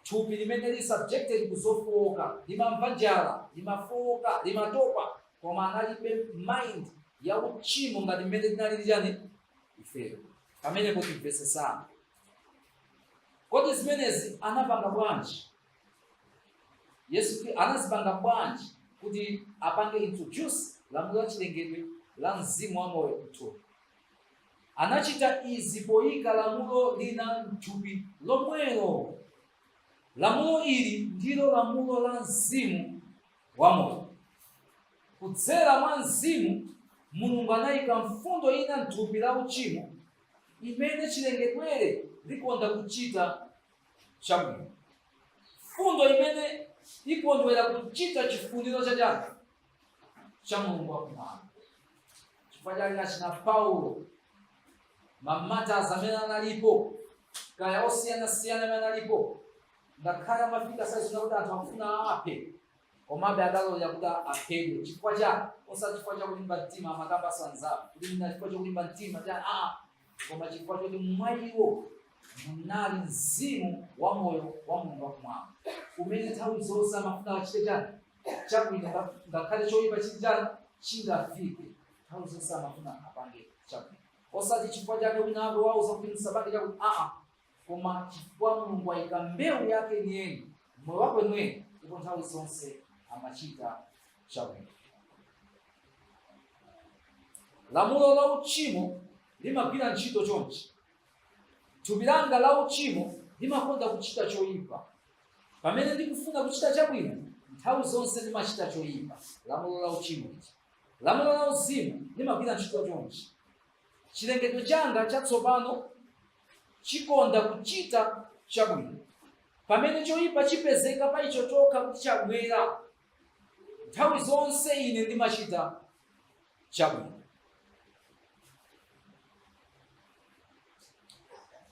Thupi limene lili subjected ku zofooka limamva njala, limafooka, limatopa, koma analibe mind ya uchimo ngati mmene tinalili chani ifeyo. Pamenepo timvetsesane. Kodi zimenezi anapanga bwanji? Yesu Khri- anazipanga bwanji kuti apange introduce lamulo la chilengedwe la mzimu wa moyo mthupi? Anachita izi poika lamulo lina m'thupi lomwelo. Lamulo ili ndilo lamulo la mzimu wa moyo. Kudzera mwa mzimu, Mulungu anaika mfundo ina m'thupi la uchimo imene chilengedwere likonda kuchita chabwino. Mfundo imene ikondwera kuchita chifuniro cha chani? cha mulungu wakumwamba chifukwa chake achina paulo mamatazi amene analipo kaya osiyanasiyana amene analipo ngakhale amafika saizi kuti anthu akufuna aphe komabe adalola kuti aphedwe chifukwa cha osati chifukwa cha kulimba mtima amakamba sanzapo kuti mina chifukwa cha kulimba mtima cha a koma chifukwa choti mwa iwo munali mzimu wa moyo wa mulungu wakumwamba umene nthawi zonse amafuna achite chani chabwino nga- ngakhale choyipa chingafike nthawi zonse amafuna apange chabwino osati chifukwa chake wina wake wauza kuti msapange chabwino aa koma chifukwa mulungu ayika mbewu yake yeniyeni moyo wake weniweni ndipo nthawi zonse amachita chabwino lamulo la uchimo limagwira ntchito chonchi thupi langa la uchimo limakonda kuchita choyipa Pamene ndikufuna kuchita chabwino, nthawi zonse ndimachita choipa, lamulo la uchimo ichi. Lamulo la uzimu limagwira ntchito chonchi. Chilengedwe changa chatsopano chikonda kuchita chabwino. Pamene choipa chipezeka pa icho chokha kuti chabwera, nthawi zonse ine ndimachita chabwino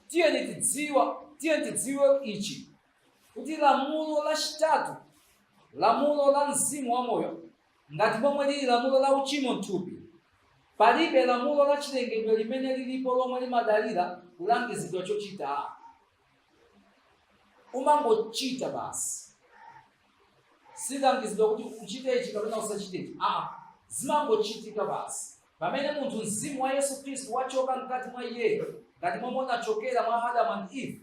tiyeni tidziwe tiyeni tidziwe ichi kuti lamulo lachitatu lamulo la mzimu wa moyo ngati momwe lili lamulo la uchimo mthupi palibe lamulo la chilengedwe limene lilipo lomwe limadalira kulangizidwa chochita umangochita basi sulangizidwa kuti uchite ichi kapena usachite ichi aa zimangochitika basi pamene munthu mzimu wa yesu khristu wachoka mkati mwa iye ngati momwe unachokera mwa adamu and eve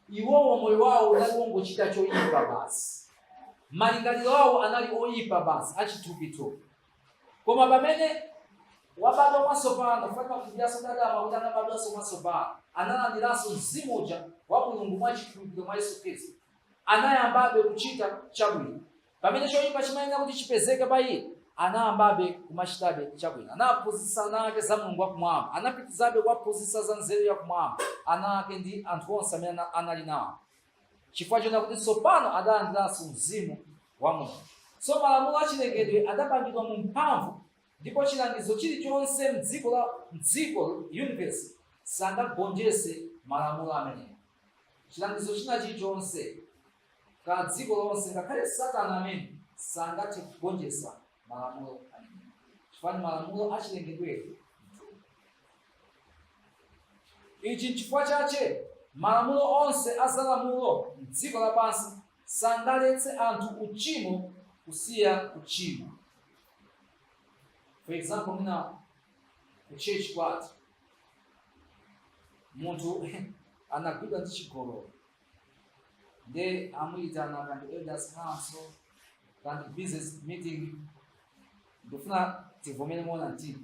iwowo moyo wawo unali wongochita choyipa basi malingaliro awo anali oyipa basi achithupithupi koma pamene wabadwa mwatsopano kufanira kufikiranso kuti adamu kuti anabadwanso mwatsopano analandiranso mzimu uja wa mulungu mwa chikhulupiriro mwa yesu khristu anayambabe kuchita chabwino pamene choyipa chimayenera kuti chipezeke pa iye anayambabe kumachitabe chabwino anaphunzitsa ana ake za mulungu wakumwamba anapitizabe kuwaphunzitsa za nzeru yakumwamba ana ake ndi anthu onse amene ana- anali nawo chifukwa chonena kuti tsopano adalandiranso mzimu wa Mulungu. So malamulo a chilengedwe adapangidwa mu mphamvu ndipo chilangizo chilichonse m'dziko la m'dziko universe sangagonjese malamulo amenewa. Chilangizo china chilichonse ka dziko lonse ngakhale Satana amene sangathe kugonjesa malamulo amenewa. Chifukwa ni malamulo a chilengedwe Ichi nchifukwa chache malamulo onse a zalamulo m'dziko lapansi sangaletse anthu uchimo kusiya kuchimwa for example mwina ku church kwathu munthu anagwidwa ndi chigololo nde amuyitana kaya ndi elders council kaya ndi business meeting ndifuna tivomere moona mtima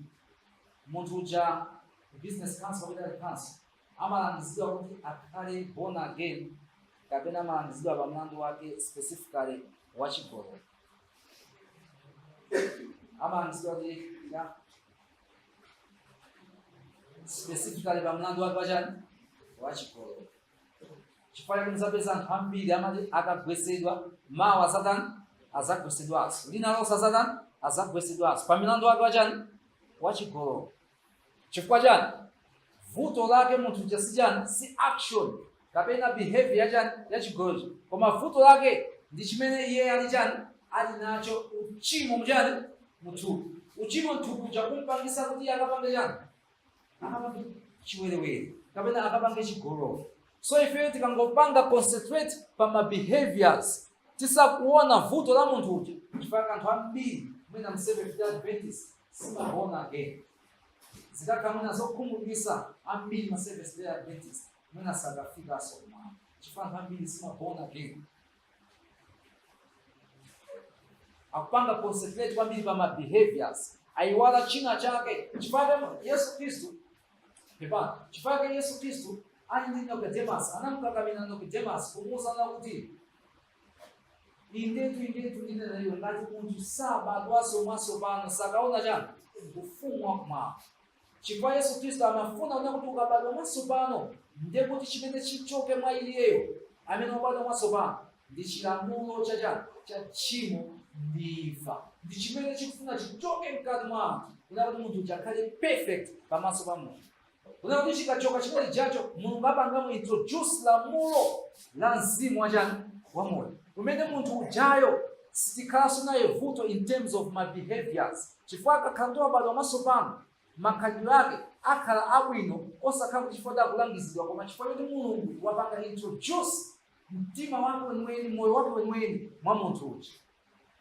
munthu uja business council kapena council amalangizidwa kuti akhale born again kapena amalangizidwa pa mlandu wake specifically wa chigololo amalangizidwa kuti ya specifically pa mlandu wake wachani wa chigololo chifukwa chake muzapeza anthu ambiri amati akagwesedwa mawa azatani azagwesedwanso lina lonse azatani azagwesedwanso pa mlandu wake wachani wachigololo Chifukwa chani? Vuto lake munthu uja si chani, si action kapena behavior ya chani ya chigololo, koma vuto lake ndi chimene iye ali chani, ali nacho uchimo mchani muthupi. Uchimo mthupi uja kumpangisa kuti iye akapange chani, akapange chiwerewere kapena akapange chigololo. So ifeyo tikangopanga concentrate pa ma behaviors tisakuona vuto la munthu uja chifukwa anthu ambiri mwina m'Seventh Day Adventist si ma born again zikakhala mwina zokhumudwisa ambiri ma seventh day adventist mwina sakafikaso kumwamba chifukwa anthu ambiri si ma born again akupanga concentrate kwambiri pa ma behaviors aiwala china chake chifukwa yesu khristu pepa chifukwa yesu khristu ali ndi nicodemus anamkakamira nicodemus kumuwuza kuti indetu indetu ndinena ndi iwe ngati munthu sabadwanso mwatsopano sakaona chani ufumu wakumwamba chifukwa yesu khristu amafuna kunena kuti ukabadwa mwatsopano ndiye kuti chimene chichoke mwa iyeyo amene wabadwa mwatsopano ndi chilamulo cha chani cha tchimo ndi imfa ndi chimene chikufuna chichoke mkati mwa anthu kunena kuti munthu uja akhale perfect pamaso pa mulungu Kunena kuti chikachoka chimene chijacho mulungu apangamo introduce lamulo la mzimu wachani wa moyo umene munthu ujayo sitikhalanso naye vuto in terms of ma behaviors chifukwa akakhala kuti wabadwa mwasopano makhalidwe ake akhala abwino osakhala kuti chifukwa cha kulangizidwa koma chifukwa choti mulungu wapanga introduce mtima wake weniweni moyo wake weniweni mwa munthu uja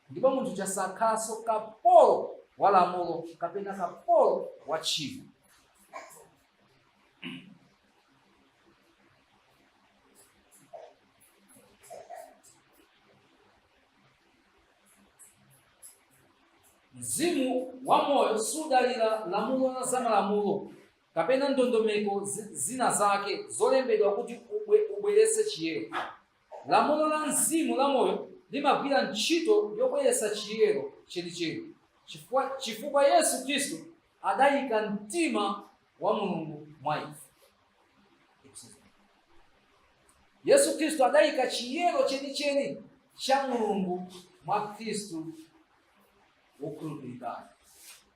ndipo munthu uja sakhalanso kapolo wa lamulo kapena kapolo wa tchimo mzimu wa moyo sudalira lamulo la zamalamulo kapena ndondomeko zi- zina zake zolembedwa kuti ubwe- ubweretse chiyero Lamulo la mzimu la moyo limagwira ntchito yobweretsa chiyero chenicheni chifukwa Yesu Khristu adayika mtima wa Mulungu mwa ife. Yesu Khristu adayika chiyero chenicheni cha Mulungu mwa Khristu wokhulupirikayo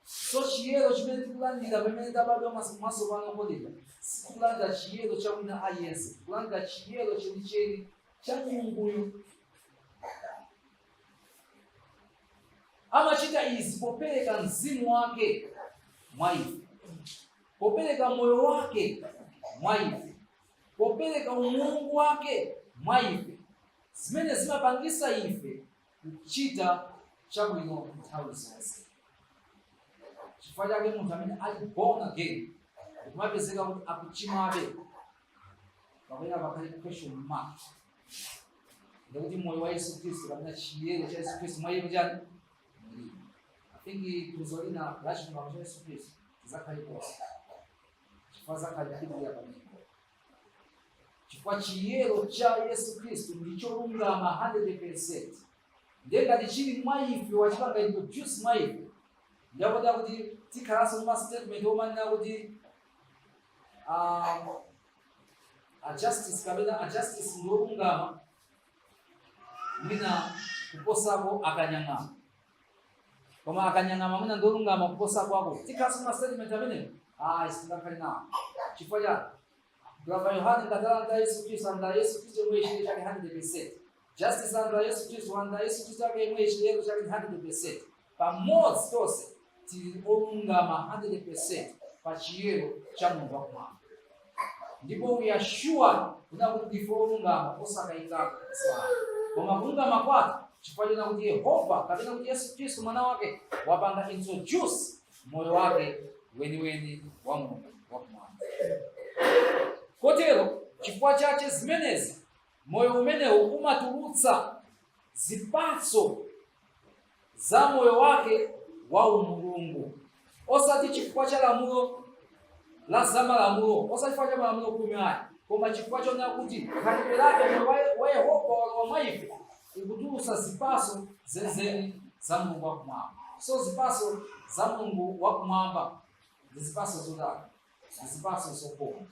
so chiyero chimene tikulandira pamene tabadwa mwatsopano kotero sikulandira chiyero cha wina aliyense tikulandira chiyero chenicheni cha mulunguyo amachita izi popereka mzimu wake mwa ife popereka moyo wake mwa ife popereka umulungu wake mwa ife zimene zimapangisa ife kuchita chabwino nthawi zonse chifukwa chake munthu amene ali born again kumapezeka kuti akuchimwabe kapena pakhale question mark ndikuti moyo wa yesu khristu kapena chiyero cha yesu khristu mwa iye chani mulibe I think tuzo lina lachipangano cha yesu khristu zakhala posa chifukwa zakhalipirira pamenepo chifukwa chiyero cha yesu khristu ndi cholungama 100% ndiye ngati chili mwa ife wachipanga introduce mwa ife ndakotera kuti tikhalenso ndi mastatement omanena kuti ah, ajustice kapena ajustice ndi olungama mwina kuposako akanyang'ama koma akanyang'ama mwina ndi olungama kuposako tikhalenso ndi mastatement amenewo ayi sitingakhale nawo chifukwa chani abambo yohane ngati alandira yesu kristu alandira yesu kristu yemwe chiyero chake 100% justice alandira yesu kristu alandira yesu kristu yake yemwe chiyero chake 100% pamodzi tonse tili olungama 100% pa chiyero cha mulungu wakumwamba ndipo we are sure kunena kuti ndife olungama osakayikako kusala koma kulungama kwathu chifukwa chonena kuti yehova kapena kuti yesu khristu mwana wake wapanga introduce moyo wake weniweni wa mulungu wakumwamba kotero chifukwa cha zimenezi moyo umenewu umatulutsa zipatso za moyo wake wa umulungu osati chifukwa cha lamulo la zamalamulo osati chifukwa cha malamulo khumi ayi koma chifukwa chonena kuti khalidwe lake wa yehova walowa mwa ife likutulutsa zipaso zenizeni za mulungu wakumwamba so zipaso za mulungu wakumwamba ndi zipaso zotani ndi zipaso zokoma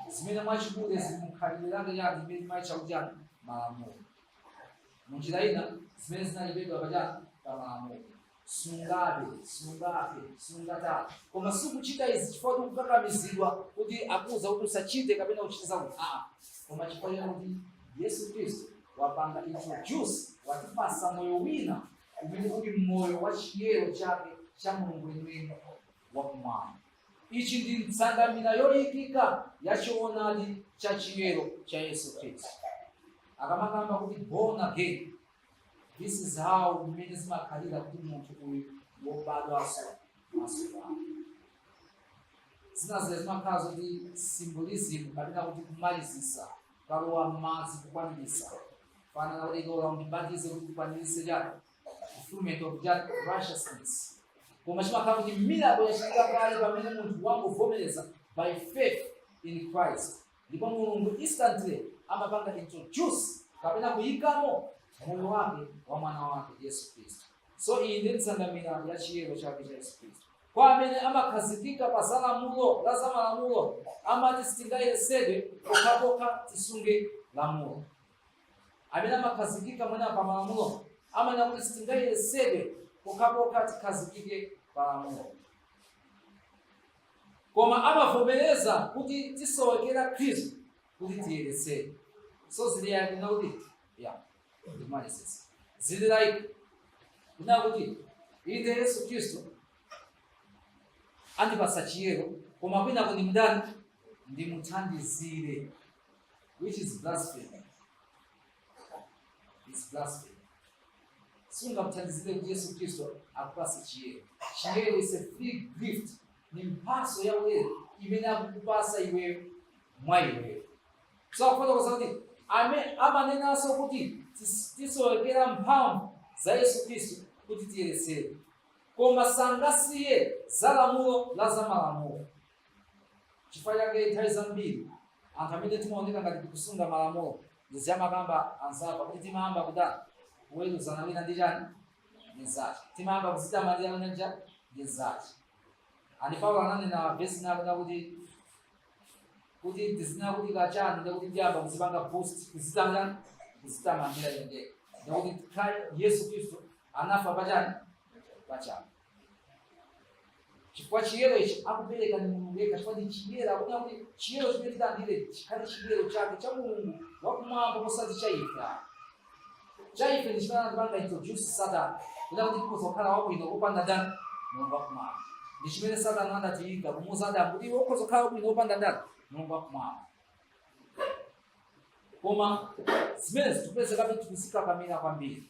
zimene mwachikhalidwe zili mukhalidwe lake yani imene timaitcha kuti yani malamulo munjira ina zimene zinalembedwa pachani pa malamulo sungabe sungaphe sungatani koma sikuchita izi chifukwa kuti kukakamizidwa kuti akuuza kuti usachite kapena uchite zakuti aa koma chifukwa chonena kuti yesu khristu wapanga introduce watipatsa moyo wina umene uli moyo wa chiyero chake cha mulungu weniweni wakumwamba ichi ndi nsanamira yoyikika ya choonadi cha chiyero cha yesu khristu akamakamba kuti born again this is how mmene zimakhalira kuti munthu uyu wobadwanso masukano zina zija zimakhala zoti symbolism kapena kuti kumalizisa kalowa m'madzi kukwanirisa pa- anena kuti undilole undibatize kuti kukwanirisa chani fulfillment of that righteousness koma chimakhala kuti miracle yachitika kale pamene munthu wangovomereza by faith in christ ndipo mulungu instantly amapanga introduce kapena kuyikamo moyo wake wa mwana wake yesu khristu so iyi ndi nsanamira ya chiyero chake cha yesu khristu kwa amene amakhazikika pa za lamulo la za malamulo amati sitingayeretsedwe pokhapokha tisunge lamulo amene amakhazikika mwina pa malamulo amanena kuti sitingayeretsedwe pokhapokha tikhazikike pa lamulo koma amavomereza kuti tisowekera khristu kuti tiyeretsedwe so zili like kunena kuti ya ndimayesetsa zili like kunena kuti inde yesu khristu andipatsa chiyero koma kunena kuti nditani ndimuthandizire which is blasphemy it's blasphemy sungamthandizire kuti yesu khristu akupatse chiyero chiyero is a free gift ndi mphatso ya ulere imene akukupatsa iweyo mwa iweyo so akufotokoza kuti ame- amanenanso kuti tis- tisowekera mphamvu za yesu khristu kuti tiyeretsedwe koma sangasiye za lamulo la zamalamulo Chifukwa chake nthawi zambiri anthu amene timaoneka ngati tikusunga malamulo izi amakamba anzathu kuti timayamba kutani kuweruzana wina ndi chani ndi mzache timayamba kuzitamandira wina ndi chani ndi mzache and paulo ananena vesi ina yonena kuti kuti ndikanena kuti kachani ndikuti ndiyamba kuzipanga boast kuzitamandira kuzitamandira ndekha ndiye kuti Kri- yesu khristu anafa pachani pachabe chifukwa chiyero ichi akupereka ni mulungu yekha chifukwa ndi chiyero akuona kuti chiyero chimene tilandire chikhale chiyero chake cha mulungu wakumwamba kosati cha ife ayi. cha ife ndi chimene anatipanga introduce satana kuti kuti tikhoza kukhala wabwino kopanda ndani mulungu wakumwamba ndi chimene satana adatiyika kumuuza adamu kuti iwe ukhoza kukhala wabwino kopanda ndani mulungu wakumwamba koma zimene zikupezekabe tikuzikakamira kwambiri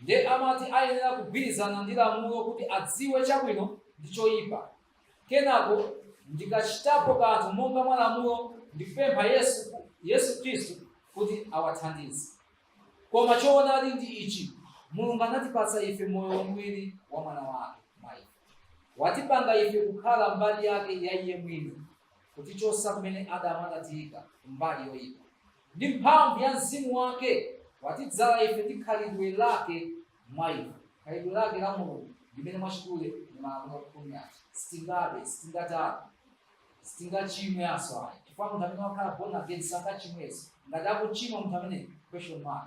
nde amati ayenera kugwirizana ndi lamulo kuti adziwe chabwino ndi choyipa kenako ndikachitapo kanthu monga mwa lamulo ndikupempha yesu khristu kuti awathandize koma choonadi ndi ichi mulungu anatipatsa ife moyo wamwini wa mwana wake mwa ife watipanga ife kukhala mbali yake ya iye mwini kutichotsa kumene adamu anatiyika mbali yoyipa ndi mphamvu ya mzimu wake watidzala ife ndi khalidwe lake mwa ife khalidwe lake la mulungu limene mwachidule ndi malamulo khumi aja sitingabe sitingatani sitingachimwenso ayi chifukwa munthu amene wakhala born again sangachimweso ngati akuchimwa munthu ameneyo question mark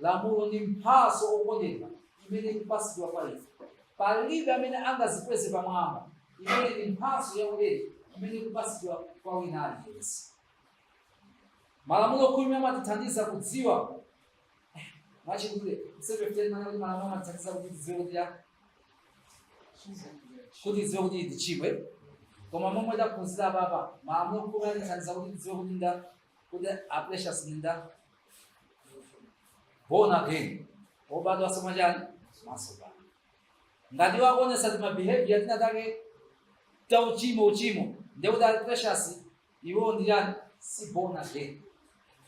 Lamulo ndi mphatso okondedwa imene ikupasidwa kwa ife. Palibe amene angazikweze pamwamba imene ndi mphatso ya ulere imene ikupasidwa kwa wina aliyense. Malamulo khumi amatithandiza kudziwa eh, mwachidule msepefuteni mana kuti malamulo amatithandiza kuti tidziwe kuti ya- kuti tidziwe kuti ndachimwa koma momwe taphunzira apa malamulo khumi amatithandiza kuti tidziwe kuti ndani kuti a precious ndi nda born again obadwa so mwa chani mwatsopano ngati akuonesa tima behavior tinatake ta uchimo uchimo ndekuti a precious iwo ndi chani si born again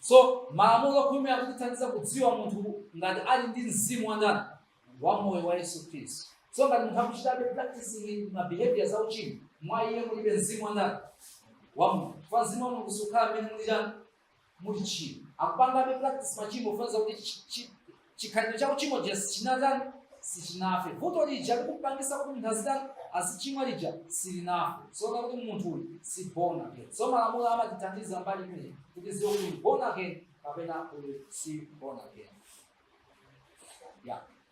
so malamulo khumi akutithandiza kudziwa munthu ngati ali ndi mzimu wa ndani wa moyo wa yesu khristu so ngati munthu akuchitabe practicing ma behavior za uchimo mwa iye mulibe mzimu wa ndani wa mulungu coz mzimu wa mulungu sukhala mmene muli chani muli tchimo akupangabe practice machimo kutanthauza kuti chi- chi- chikhalidwe cha uchimo chija sichinatani sichinafe vuto lija likupangisa kuti munthu azitani azichimwa lija silinafe so ndekuti munthu uyu si born again so malamulo amatithandiza mbali imeneyi kuti tiziwe kuti ndi born again kapena uyu si born again yeah.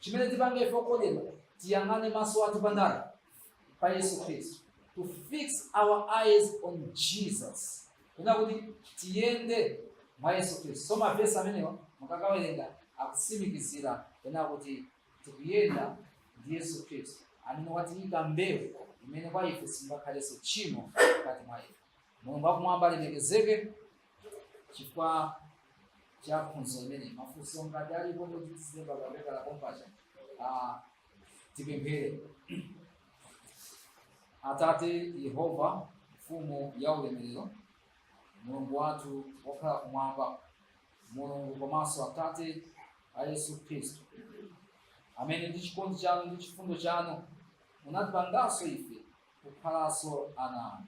chimene tipange ife okondedwa tiyang'ane maso athu pa ndani pa yesu khristu to fix our eyes on jesus kunena kuti tiyende mwa yesu khristu so mavesi amenewa mukakawerenga akutsimikizira kunena kuti tikuyenda ndi yesu khristu amene watiyika mbewu imene mwa ife singakhalenso tchimo mkati mwa ife mulungu akumwamba alemekezeke chifukwa cha phunziro limene mafunso ngati alipo muzilemba pakapepala kompano tipemphere atate yehova mfumu ya ulemerero mulungu wathu wokhala kumwamba mulungu komanso atate a yesu khristu amene ndi chikondi chanu ndi chifundo chanu munatipanganso ife kukhalanso ana anu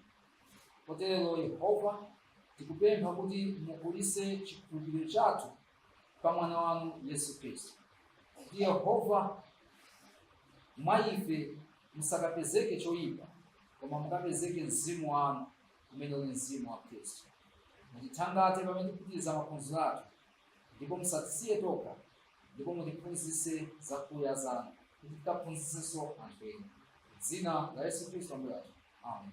potero yehova tikupempha kuti mukulise chikhulupiriro chathu pa mwana wanu yesu khristu kuti yehova mwa ife musakapezeke choyipa koma mukapezeke mzimu wanu umene uli mzimu wa khristu mutithangate pamene tikupitiriza maphunziro athu ndipo musatisiye tokha ndipo mutiphunzitse zakuya zanu kuti tikaphunzitsenso anthu ena dzina la yesu khristu ambuye athu amen